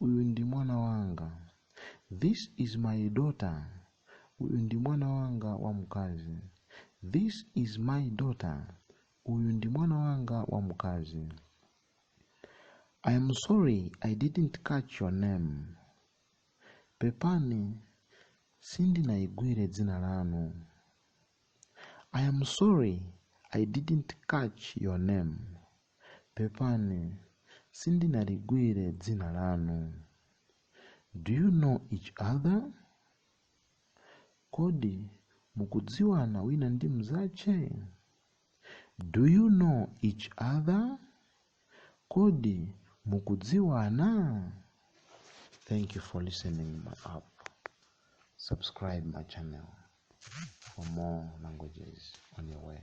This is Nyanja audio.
Uyu ndi mwana wanga. This is my daughter. Uyu ndi mwana wanga wamkazi. This is my daughter. Uyu ndi mwana wanga wamkazi. I am sorry I didn't catch your name. Pepani sindinaligwire dzina lanu. I am sorry I didn't catch your name. Pepani, sindinaligwire dzina lanu. Do you know each other? Kodi mukudziwana wina ndi mzache? Do you know each other? Kodi mukudziwana? Thank you for listening my app. Subscribe my channel for more languages on your way.